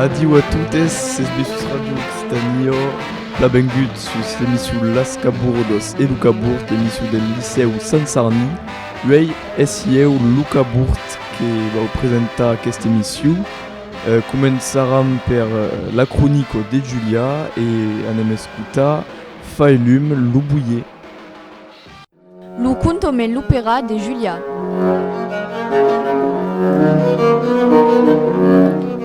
Adiu a totes, es Besús Radio Occitània. Plan bengut sus l'emissou Las Cabourdas e lo Cabourd, l'emissou del Licèu Sant Sarni. Uèi es ieu lo Cabourd que vau presentar aquesta emissou. Començaram per la cronica de Julia e anem escotar Fai lum lo boier. Lo conto me l'opera de Julia.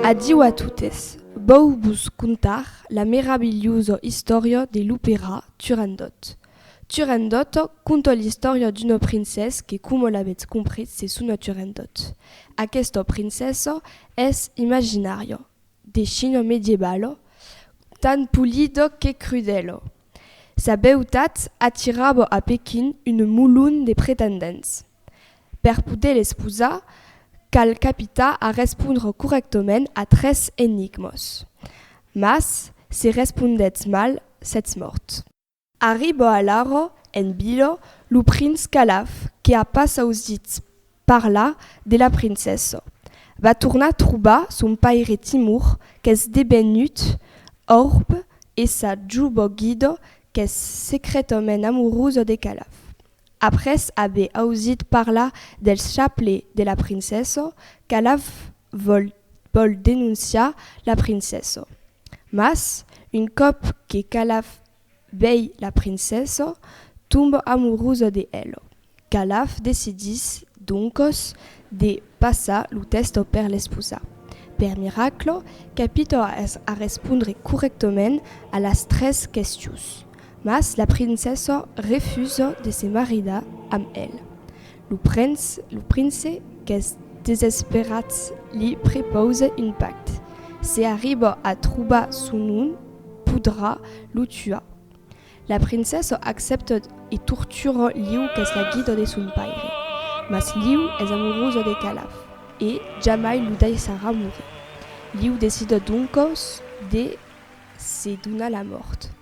Adiu a totes. Vòu vos contar la meravilhosa istòria de l'opera Turandot. Turandot conta l'istòria d'una princessa que coma l'avètz compris se sona Turandot. Aquesta princessa es imaginària, de China medievalo, tan polido que crudelo. Sa beutat atirava a Pequin un molon de pretendents. Per poder l'esposar, cal capitar a respondre corrèctament a tres enigmas. Mas, se respondètz mal, sètz mòrt. Arriba alara en vila lo prince Calaf que a pas ausit parlar de la princessa. Va tornar trobar son paire Timur qu'es debenut orb e sa juba guida qu'es secretament amorusa de Calaf. Après aver ausit parlar del chaple de la princessa, Calaf vòl denonciar la princessa. Mas, un còp que Calaf vei la princessa, tomba amorusa de ela. Calaf decidís doncos de passar lo tèsto per l'esposar. Per miracla, capita a respondre corrèctament a las tres questions. Mas la princessa refusa de se maridar amb el. Lo prens, lo prince, qu'es desesperat li prepausa un pacte, se arriba a trobar son nom podrà lo tuar. La princessa accepta e tortura Liu qu'es la guida de son paire. Mas Liu es amorusa de Calaf e jamai lo daissarà morir. Liu decida doncas de se donar la mòrt.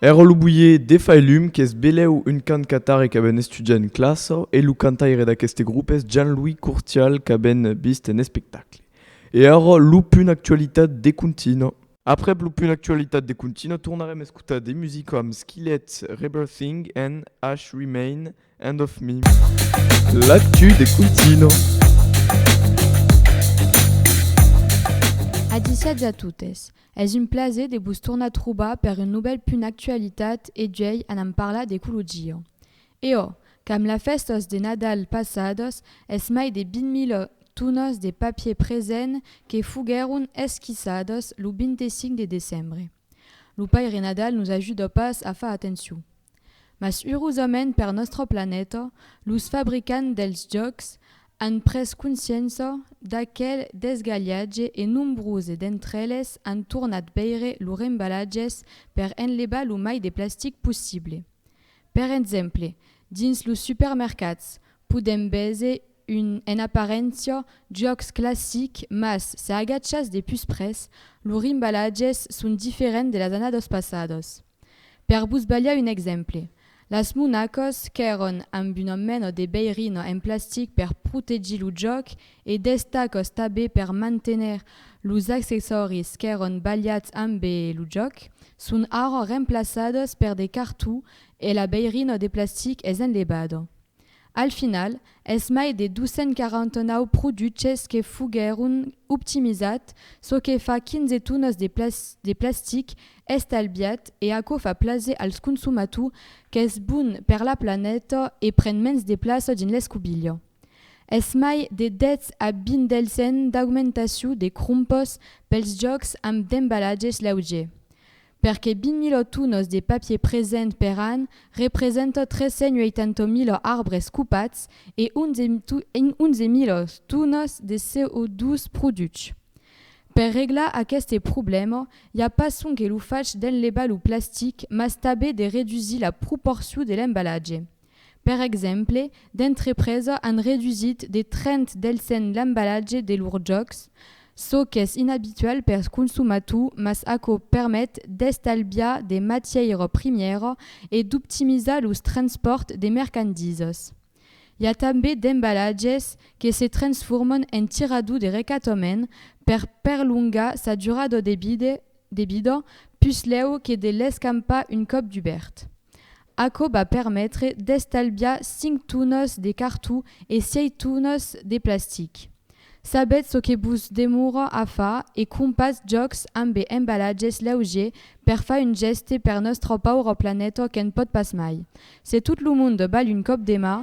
Èra lo boier Defailum qu'es belèu un cant qu'atari qu'avèn estudiat en classa e lo cantaire d'aqueste grop es Jean-Louis Courtial qu'avèn vist en espectacle. E ara lo punt actualitat de Contina. Aprèp lo punt actualitat de Contina tornarem escotar de musica amb Skillet, Rebirthing and Ash Remain, End of Me. L'actu de Contina. Agisiatz a totes. Es un plaser de vos tornar trobar per un novèl punt actualitat e juèi anam parlar d'ecologia. E ò, qu'amb la fèstas de Nadal passadas es mai de 20 mila tonas de papier present que foguèron esquissadas lo 25 de decembre. Lo Paire Nadal nos ajuda pas a far atencion. Mas urosament per nòstra planeta, los fabricants dels jòcs an pres consciença d'aquel desgalhatge e nombrose d'entre eles an tornat veire lor embalatges per enlevar lo mai de plastic possible. Per exemple, dins los supermercats podèm veser un, en aparéncia, jòcs classic mas se agachas de pus pres, lor embalatges son diferents de las annadas passadas. Per vos balhar un exemple, las monacos qu'èron amb una mena de beirina en plastic per protegir lo jòc e d'estacas tabé per manténer los accessòris qu'èron balhats amb lo jòc son ara remplaçadas per de cartó e la beirina de plastic es enlevada. Al final, es mai de 249 produches que foguèron optimizats, çò que fa 15 tonas de plastic estalviat e aquò fa plaser als consomators qu'es bon per la planeta e pren mens de plaça dins l'escobilha. Es mai de 10 a 20 del cent d'augmentacion de crompes pels jòcs amb d'embalatges leugers. perque 20.000 tonos de papier present per an representa 380.000 arbres copats e 11.000 tonas de CO2 produch. Per reglar aqueste problèma, i a pas sonque lo fach d'enlevar lo plastic mas tanben de redusir la proporcion de l'embalatge. Per exemple, d'entrepresa an redusit de 30 del sen l'embalatge de lors jòcs, çò qu'es inabitual per consumator mas aquò permet d'estalbiar de matièira primièra e d'optimizar los transpòrts de mercandisas. I a tanben d'embalatges que se transforman en tirador de recatament per perlongar sa durada de vida puslèu que de l'escampar un còp dubèrt. Aquò va permetre d'estalviar 5 tonas de cartó e 6 tonas de plastic. Sabètz çò que vos demora a far e crompatz jòcs ambe embalatges leugier per far un gèste per nòstra paura planeta que'n pòt pas mai. Se tot lo monde val un còp de mà,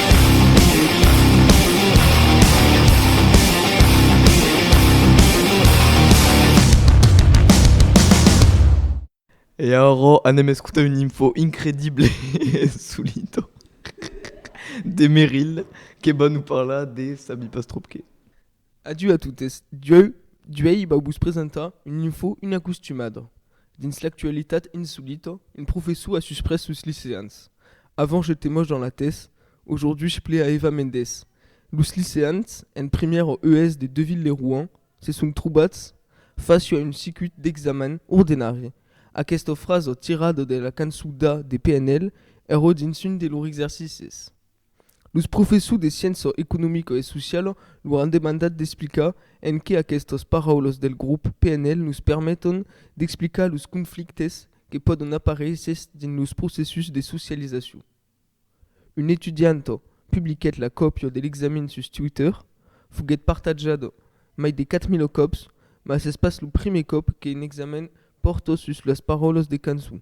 E ara anem escotar una info incredible e solida de Meryl que va nous parlar de Sabi Pastrupke. Adieu a totes, Dieu, Diuèi vau vos presentar un info inacostumada. Dins l'actualitat insolita, un professor a susprés sos liceans. Avant j'étais moche dans la tès, aujourd'hui je plais à Eva Mendes. Los liceans, en primièra ES de Deauville-lès-Rouen, se son trobats fàcia un cicut d'examen ordenari. Aquesta frasa tirada de la cançon d'A de PNL èra dins un de lors exercicis. Los professors de sciença economica e sociala lor an demandat d'explicar en qué aquestas paraulas del grop PNL nos permeton d'explicar los conflictes que pòdon aparéisser dins los processus de socializacion. Una etudianta publiquèt la còpia de l'examen sus Twitter. Foguèt partatjada mai de 4.000 còps, mas es pas lo primièr còp qu'un examen pòrta sus las paraulas de cançon.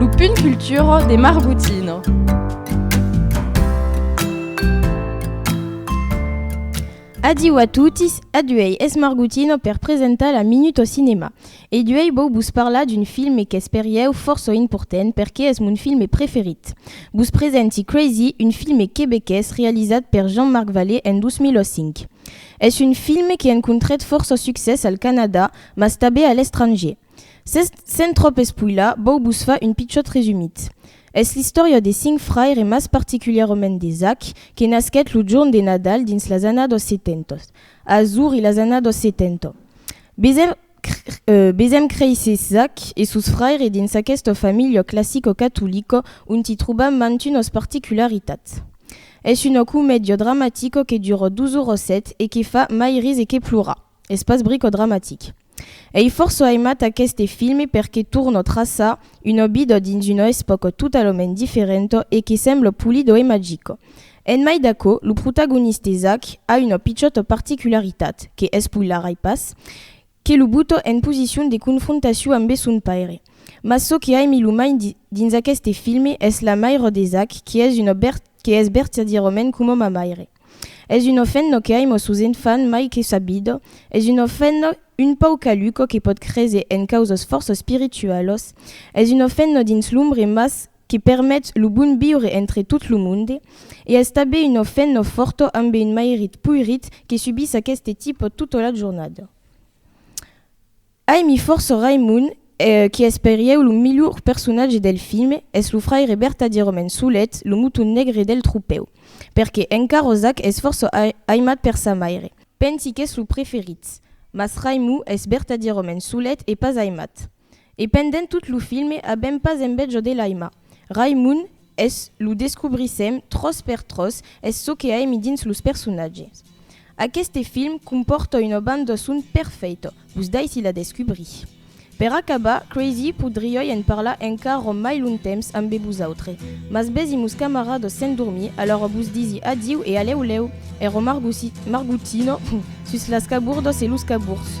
Lo punt cultura de Margotina. Adiu a totis, aduèi es Margotina per presentar la Minut au Cinema. E duèi vòu vos parlar d'un filme qu'es per ieu fòrça important perque es mon filme preferit. Vos presenti Crazy, un filme quebequés realizat per Jean-Marc Vallée en 2005. Es un filme que encontrèt fòrça succès al Canadà mas tabé a l'estranger. Sens tròp espoilar, vòu vos far un pichòt resumit. Es l'istòria de cinc fraires e mas particulièrament de Zach, que nasquèt lo jorn de Nadal dins las annadas 70, azur i las annadas 70. Besèm créisser Zach e sos fraires dins aquesta familha classico-catolica onti trobam mantunas particularitats. Es una comèdia dramatica que dura dos oras set e que fa mai ris e que plorar. Es pas bricodramatic. Ei fòrça aimat aqueste filme perque tornò traçar un obidò dins una espòca totalament diferenta e que sembla pulido e magico. En mai d'aquò, lo protagoniste Zach a una pichòta particularitat, que espoilarai pas, que lo buta en posicion de confrontacion ambe son paire. Mas çò que aimi lo mai dins aqueste filme es la maira de Zach que es una que es vertadièrament coma ma maire. Es un ofenno que aimo sus un fan mai que sabido, es un ofenno un pauc caluco que pòt créser en causas fòrça espiritualas, es un ofenno dins l'umbre mas que permet lo bon viure entre tot lo monde, e es tabé un ofenno fòrto ambe un mairit poirit que subís aqueste tipo tota la jornada. Ai mi fòrça Raimon qui es per ieu lo milhor personatge del filme, es lo fraire bertadièrament solet, lo moton negre del tropèu. Perque en Carrozac es fòrça aimat per sa maire. Pensi qu'es lo preferit. Mas Raimon es bertadièrament solet e pas aimat. E pendent tot lo filme avèm pas enveja de l'aimar. Raimon Es lo descobrissèm tròç per tròç, es çò que aimi dins los personatges. Aqueste film compòrta una banda son perfèita, vos daissi la descubrir. Per acabar, Crazy, podriái en parlar encara mai long temps ambe vosautre, mas besi mos camaradas s'endormir, alara vos disi adiu e alèu lèu, ero margotino sus las cabordas e los cabords.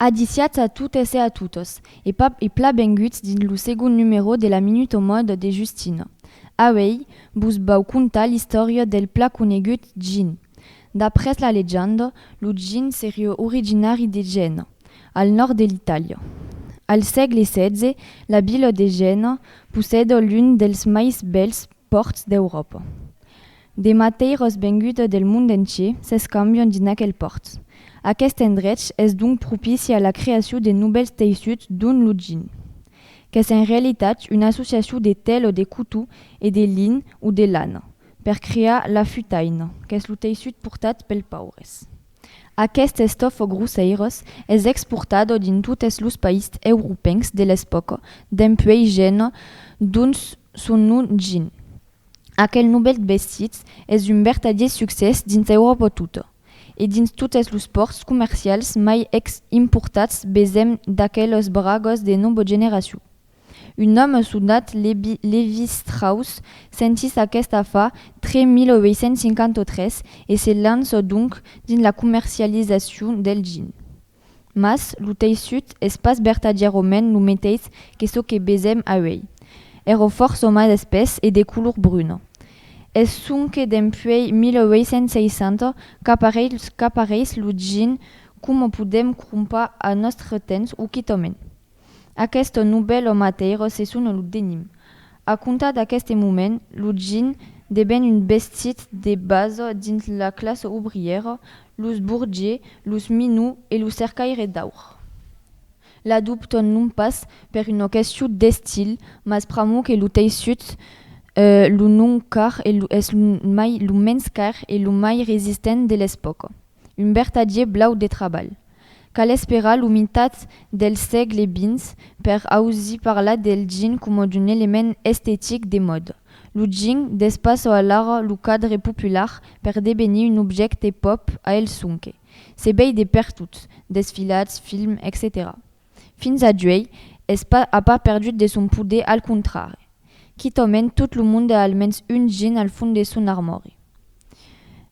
Adiciatz a totes e a totos, e pas e pla benguts dins lo segond numerò de la Minut au Mòde de Justina. Auèi, vos vau contar l'istòria del pla conegut Gin. D'après la legenda, lo Gin seriá originari de Gèna, al nòrd de l'Itàlia. Al sègle xvi, la vila de Gèna possèda l'un dels mai bèls pòrts d'Euròpa. De mateiros venguts del mond entier s'escambion dins aquel pòrt. Aqueste endrech es donc propici a la creacion de novèls teissuts dont lo gin, qu'es en realitat una associacion de tèlo de cotó e de lin o de lana, per crear la futaina, qu'es lo teissut portat pels paures. Aqueste estofo grosseiros es exportado dins totes los païsts europencs de l'espòca, dempuèi Gènua, d'ont son nom gin. Aquel novèl vestit es un vertadier succès dins Euròpa tota, e dins totes los pòrts comercials mai ex importats vesèm d'aqueles bragòs de nova generacion. Un òme sonat Levi Strauss sentís aquesta fa tre 1853 e se lança donc dins la comercializacion del gin. Mas, lo teissut es pas vertadièrament lo meteis que çò que vesèm auèi. Èra fòrça mas espès e de color bruna. Es sonque dempuèi 1860 qu'apareis lo jean coma podèm crompar al nòstre temps o quitament. Aqueste novèl òme atèiro se sona lo Denim. A comptar d'aqueste moment, lo gin deven un vestit de basa dins la classa obrièra, los burgiers, los minous e lo cercaire d'aur. L'adoptan non pas per una question d'estil, mas pr'amor que lo teissut lo non car es lo mai lo mens car e lo mai resistent de l'espòca. un vertadier blau de trabalh. Cal esperar lo mitat del sègle xx per ausir parlar del jean coma d'un element estetic de mòda. Lo jean despassa alara lo cadre popular per devenir un objècte pop a el sonque se vei de pertot, desfilats, films, etcetèra. Fins a d'uei, es pas, a pas perdut de son poder, al contrari. Quitament, tot lo monde a almens un jin al fond de son armòri.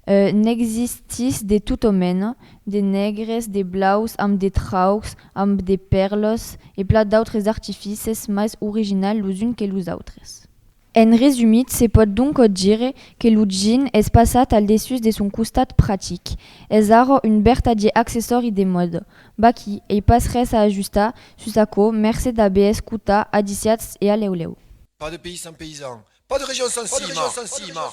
E n'existís de tota mena, de negres, de blaus, amb de traucs, amb de pèrlas, e plan d'autres artifices, mas originals los uns que los autres. En resumit, se pòt doncòt dire que lo jean es passat al dessús de son costat practic. Es ara un bertadier accessòri de mòda. Vaquí, ei pas res a ajustar sus aquò, mercé d'aver escotat Adiciats e Alèu Lèu. Pas de pays sans paysan. Pas de région sans cima.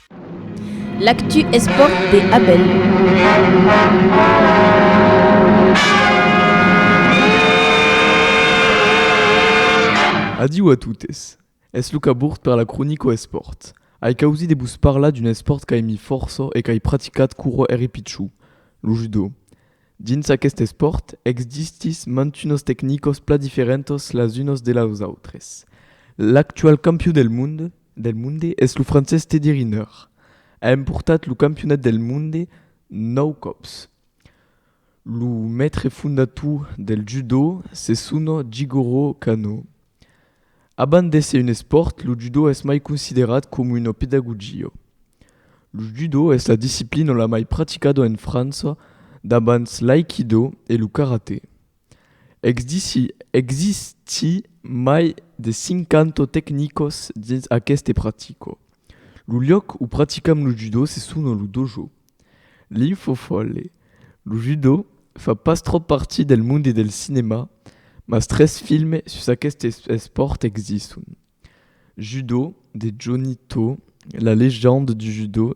L'actu espòrt de Abel. Adiu a totes. Es Luca Burt per la cronico espòrt. Ai causit de vos parlar d'un espòrt qu'aimi fòrça e qu'ai practicat quora èri pichon, lo judo. Dins aqueste espòrt, exdistis mantunas tecnicas pla diferentas las unas de las autres. L'actual campion del monde, del monde es lo francés Teddy Riner. A emportat lo campionat del monde nòu còps. Lo mètre fondator del judo se sona Jigoro Kano. Abans d'èsser un espòrt, lo judo es mai considerat coma una pedagogia. Lo judo es la disciplina la mai practicada en França, davant l'aikido e lo karate. Existí mai de 50 tecnicos dins aqueste pratico. Lo luòc o praticam lo judo se sona lo dojo. L'infofolle, Lo judo fa pas tròp partir del monde del cinema, mas tres films sus aqueste espòrt existon, Judo de Johnny To, La légende du judo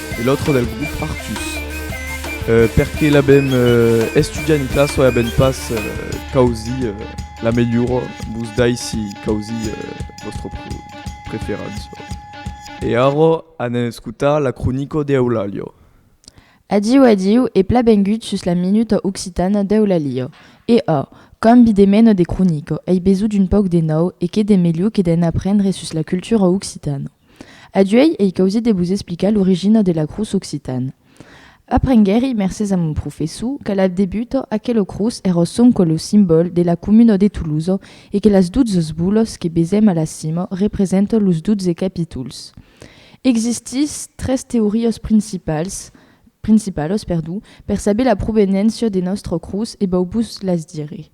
e l'autre del groupe Artus. Euh, per que l'abem euh, estudiat en classe, oi abem pas euh, causi euh, la melhora, vos dai si causi euh, vostre pre preferença. E ara anem escutar la cronica d'Eulalia. Adiu, adiu e pla bengut sus la Minuta Occitana d'Eulalia. E a, cambi de mena de cronica, ei besout un pauc de nau e qué de melhor que d'en aprendre sus la cultura occitana. Aduèi ei causit de vos explicar l'origina de l'acròs occitan. Aprenguèri, mercés a mon professor, qu'a la debuta, aquel ocròs èra ò sonque lo simbòl de la comuna de Tolosa e que las dotzes bolas que vesèm a la cima representan los dotze capítols. Existís tres teorias principals, principalas, perdon, per saber la provenéncia de nòstre ocròs e vau vos las dire.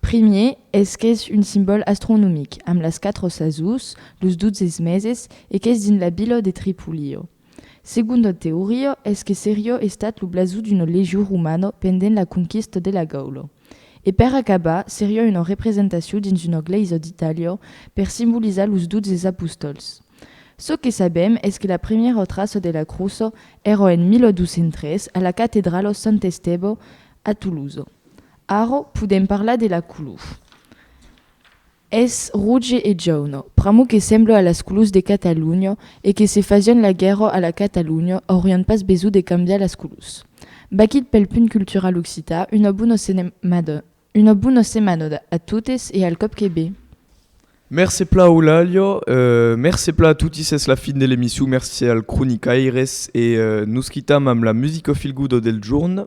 Primier, es qu'es un simbòl astronomic, amb las quatre sasons, los dotze meses, e qu'es dins la vila de Tripolio. Segonda teoria, es que seriá estat lo blason d'una legion romana pendent la conquista de la Gaula. E per acabar, seriá una representacion dins una glèisa d'Itàlia per simbolizar los dotze apostòls. Çò que sabèm es que la primièra traça de la crosa èra en 1203 a la catedrala Sant Estèba a Tolosa. Ara podèm parlar de la color. Es roge e jauna, pr'amor que sembla a las colors de Catalonha e que se fasián la guèrra a la Catalonha aurián pas besonh de cambiar las colors. Baquit pel punt cultural occità, una bona senemada, una bona semanada a totes e al còp que be! Mercé pla Eulàlia, mercé pla a toti s'es la fin de l'emission, mercé al cronicaires e nos quitam amb la musica feel good del jorn